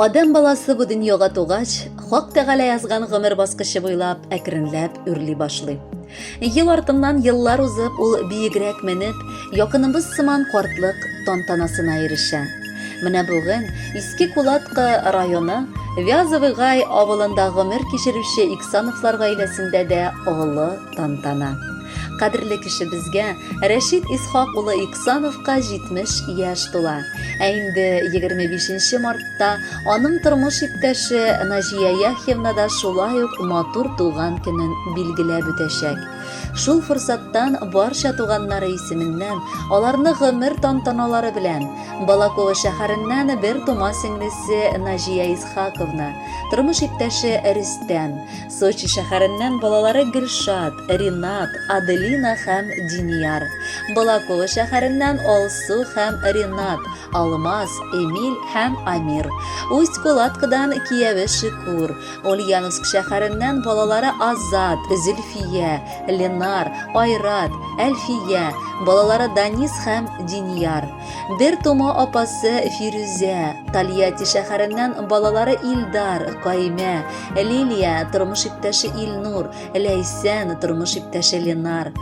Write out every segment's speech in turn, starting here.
Адәм баласы бу дөньяга тугач, Хак Тәгалә язган гомер баскычы буйлап әкренләп үрли башлый. Ел артыннан еллар узып, ул биегрәк менеп, якыныбыз сыман картлык тантанасына ирешә. Менә бүген Иске Кулатка районы Вязовый Гай авылында гомер кичерүче Иксановлар гаиләсендә дә олы тантана. Кадерле кешебезгә Рәшит Исхак улы Иксановка 70 яшь тула. Ә инде 25 мартта аның тормыш иптәше Наҗия Яхьевна да шулай ук матур туган көнен билгеләп үтәчәк. Шул форсаттан барча туганнары исеменнән, аларны гомер тантаналары белән, Балаково шәһәреннән бер тума сеңлесе Наҗия Исхаковна, тормыш иптәше Рөстәм, Сочи шәһәреннән балалары Гөлшат, Ринат, Аделина һәм Динияр. Балаково шәһәреннән Алсу һәм Ринат, Алмаз, Эмиль һәм Амир. Усть-Кулаткадан кияве Шикур. Ульяновск шәһәреннән балалары Азат, Зөлфия, Ленар, Айрат, Әлфия. Балалары Данис һәм Динияр. Бер тома апасы Фирүзә, Тольятти шәһәреннән балалары Илдар, Каймә, Лилия, тормыш иптәше Илнур, Ләйсән, тормыш иптәше Ленар,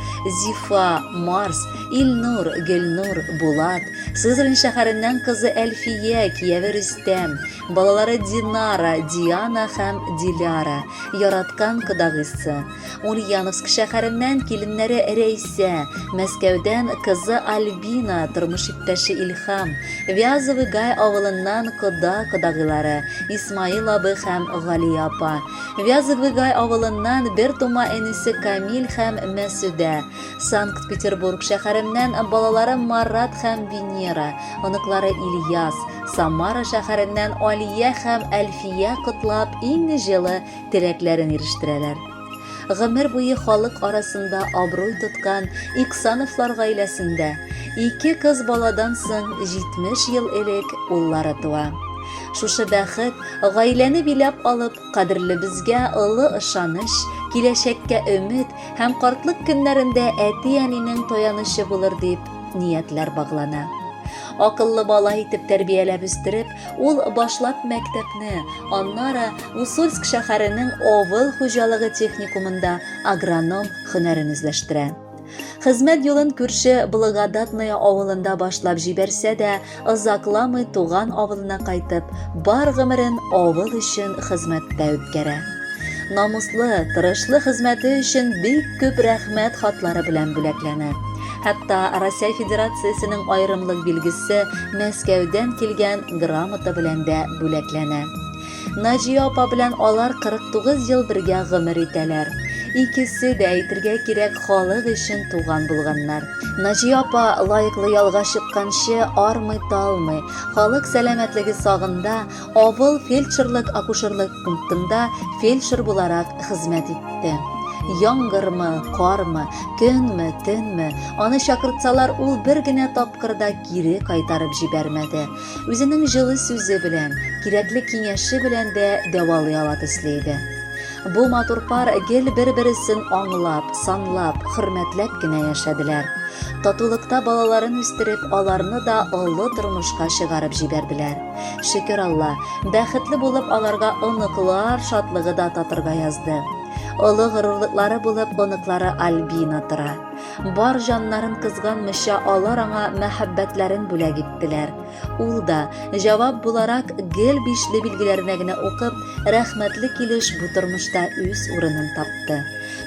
Зифа, Марс, Илнур, Гөлнур, Булат, Сызрань шәһәреннән кызы Әлфия, кияве Рөстәм, балалары Динара, Диана һәм Диляра, яраткан кодагыйсы, Ульяновск шәһәреннән киленнәре Рәйсә, Мәскәүдән кызы Альбина, тормыш иптәше Илһам, Вязовый Гай авылыннан кода-кодагыйлары Исмаил абый һәм Галия апа, Вязовый Гай авылыннан бер тума энесе Камил һәм Мәсүдә, Санкт-Петербург шәһәреннән балалары Марат һәм Венера, оныклары Ильяс, Самара шәһәреннән Алия һәм Әлфия котлап иң җылы теләкләрен ирештерәләр. Гомер буе халык арасында абруй тоткан Иксановлар гаиләсендә ике кыз баладан соң 70 ел элек уллары туа. Шушы бәхет гаиләне биләп алып, кадерлебезгә олы ышаныч, киләчәккә өмет һәм картлык көннәрендә әти-әнинең таянычы булыр дип ниятләр баглана. Акыллы бала итеп тәрбияләп үстереп, Ул башлап мәктәпне, аннары Усольск шәһәренең авыл хуҗалыгы техникумында агроном һөнәрен үзләштерә. Хезмәт юлын күрше Благодатная авылында башлап җибәрсә дә, озакламый туган авылына кайтып, бар гомерен авыл өчен хезмәттә үткәрә. Намуслы, тырышлы хезмәте өчен бик күп рәхмәт хатлары белән бүләкләнә. Хәтта Россия Федерациясенең аерымлык билгесе Мәскәүдән килгән грамота белән дә бүләкләнә. Наҗия апа белән алар 49 ел бергә гомер итәләр. Икесе дә әйтергә кирәк халык өчен туган булганнар. Наҗия апа лаеклы ялга чыкканчы армый-талмый, халык сәламәтлеге сагында Авыл фельдшерлык-акушерлык пунктында фельдшер буларак хезмәт итте. Яңгырмы, кармы, көнме, төнме, аны чакыртсалар, ул бер генә тапкыр да кире кайтарып җибәрмәде. Үзенең җылы сүзе белән, кирәкле киңәше белән дә дәвалый ала төсле иде. Бу матур пар гел бер-бересен аңлап, санлап, хөрмәтләп кенә яшәделәр. Татулыкта балаларын үстереп, аларны да олы тормышка чыгарып җибәрделәр. Шөкер Алла, бәхетле булып аларга оныклар шатлыгы да татырга язды. Олы горурлыклары булып оныклары Альбина тора. Бар җаннарын кызганмыйча алар аңа мәхәббәтләрен бүләк иттеләр. Ул да, җавап буларак, гел бишле билгеләренә генә укып, рәхмәтле килеш бу тормышта үз урынын тапты.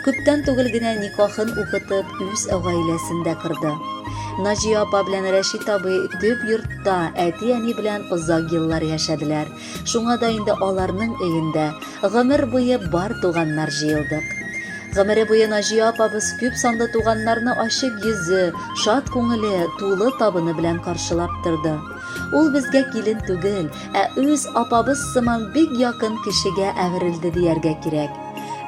Күптән түгел генә никахын укытып, үз гаиләсен дә кырды. Наҗия апа белән Рәшит абый төп йортта әти-әни белән озак еллар яшәделәр. Шуңа да инде аларның өендә гомер буе бар туганнар җыелдык. Гомере буе Наҗия апабыз күп санлы туганнарны ачык йөзе, шат күңеле, тулы табыны белән каршылап торды. Ул безгә килен түгел, ә үз апабыз сыман бик якын кешегә әверелде дияргә кирәк.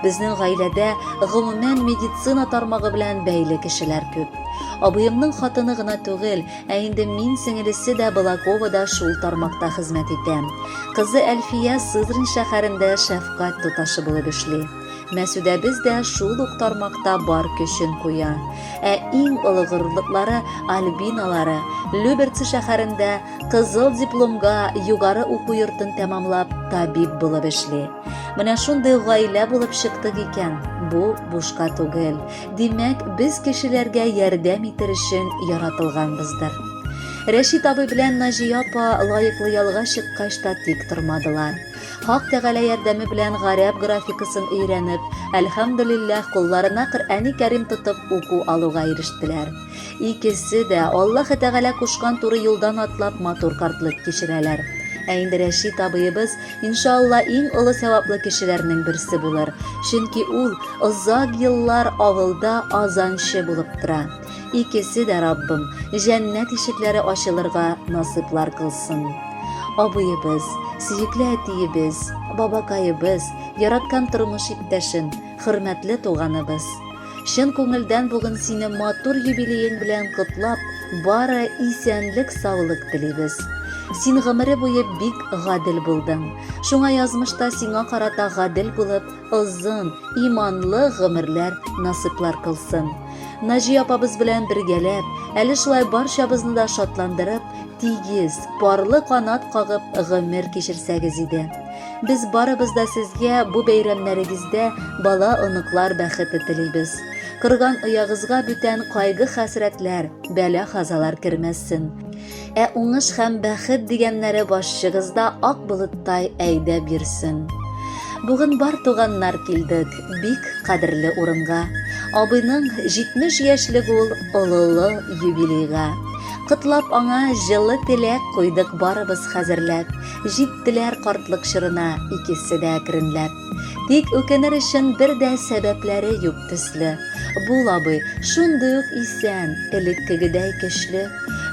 Безнең гаиләдә гомумән медицина тармагы белән бәйле кешеләр күп. Абыемның хатыны гына түгел, ә инде мин сеңелесе дә Балаковада шул тармакта хезмәт итә. Кызы Әлфия Сызрань шәһәрендә шәфкать туташы булып эшли. Мәсүдәбез дә шул ук тармакта бар көчен куя. Ә иң олы горурлыклары Альбиналары Люберцы шәһәрендә кызыл дипломга югары уку йортын тәмамлап табиб булып эшли. Менә шундый гаилә булып чыктык икән. Бу бушка түгел. Димәк, без кешеләргә ярдәм итер өчен яратылганбыздыр. Рәшит абый белән Наҗия апа лаеклы ялга чыккач та тик тормадылар. Хак Тәгалә ярдәме белән гарәп графикасын өйрәнеп, әлхәмдулиллаһ, кулларына Коръәни Кәрим тотып уку алуга ирештеләр. Икесе дә, Аллаһы Тәгалә кушкан туры юлдан атлап, матур картлык кичерәләр. Ә инде Рәшит абыебыз, иншаалла, иң олы сәваплы кешеләрнең берсе булыр, чөнки ул озак еллар авылда азанчы булып тора. Икесе дә, Раббым, җәннәт ишекләре ачылырга насыйплар кылсын. Абыебыз, сөекле әтиебез, бабакаебыз, яраткан тормыш иптәшем, хөрмәтле туганыбыз! Чын күңелдән бүген сине матур юбилеең белән котлап, бары исәнлек-саулык телибез. Син гомере буе бик гадел булдың. Шуңа язмышта сиңа карата гадел булып, озын, иманлы гомерләр насыйплар кылсын. Наҗи апабыз белән бергәләп, әле шулай барчабызны да шатландырып, тигез, парлы канат кагып гомер кичерсәгез иде. Без барыбыз да сезгә бу бәйрәмнәрегездә бала, оныклар бәхете телибез. Кырган оягызга бүтән кайгы-хәсрәтләр, бәла-казалар кермәсен. Ә уңыш һәм бәхет дигәннәре башчыгызда ак болыттай әйдә бирсен. Бүген бар туганнар килдек, бик кадерле урынга. Абыйның 70 яшьлек ул олылы юбилейга. Котлап аңа җылы теләк куйдык барыбыз хәзерләп. Җиттеләр картлык чорына икесе дә әкренләп. Тик үкенер өчен бер дә сәбәпләре юк төсле. Бул, абый, шундый ук исән, элеккегедәй көчле.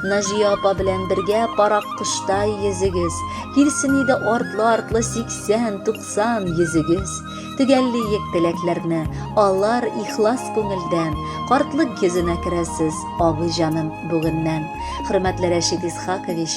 Наҗия апа белән бергә парак коштай йөзегез. Килсен иде артлы-артлы сиксән, туксан йөзегез. Төгәллиек теләкләрне, алар ихлас күңелдән. Картлык йөзенә керәсез, абый җаным, бүгеннән. Хөрмәтле Рәшит Исхакович,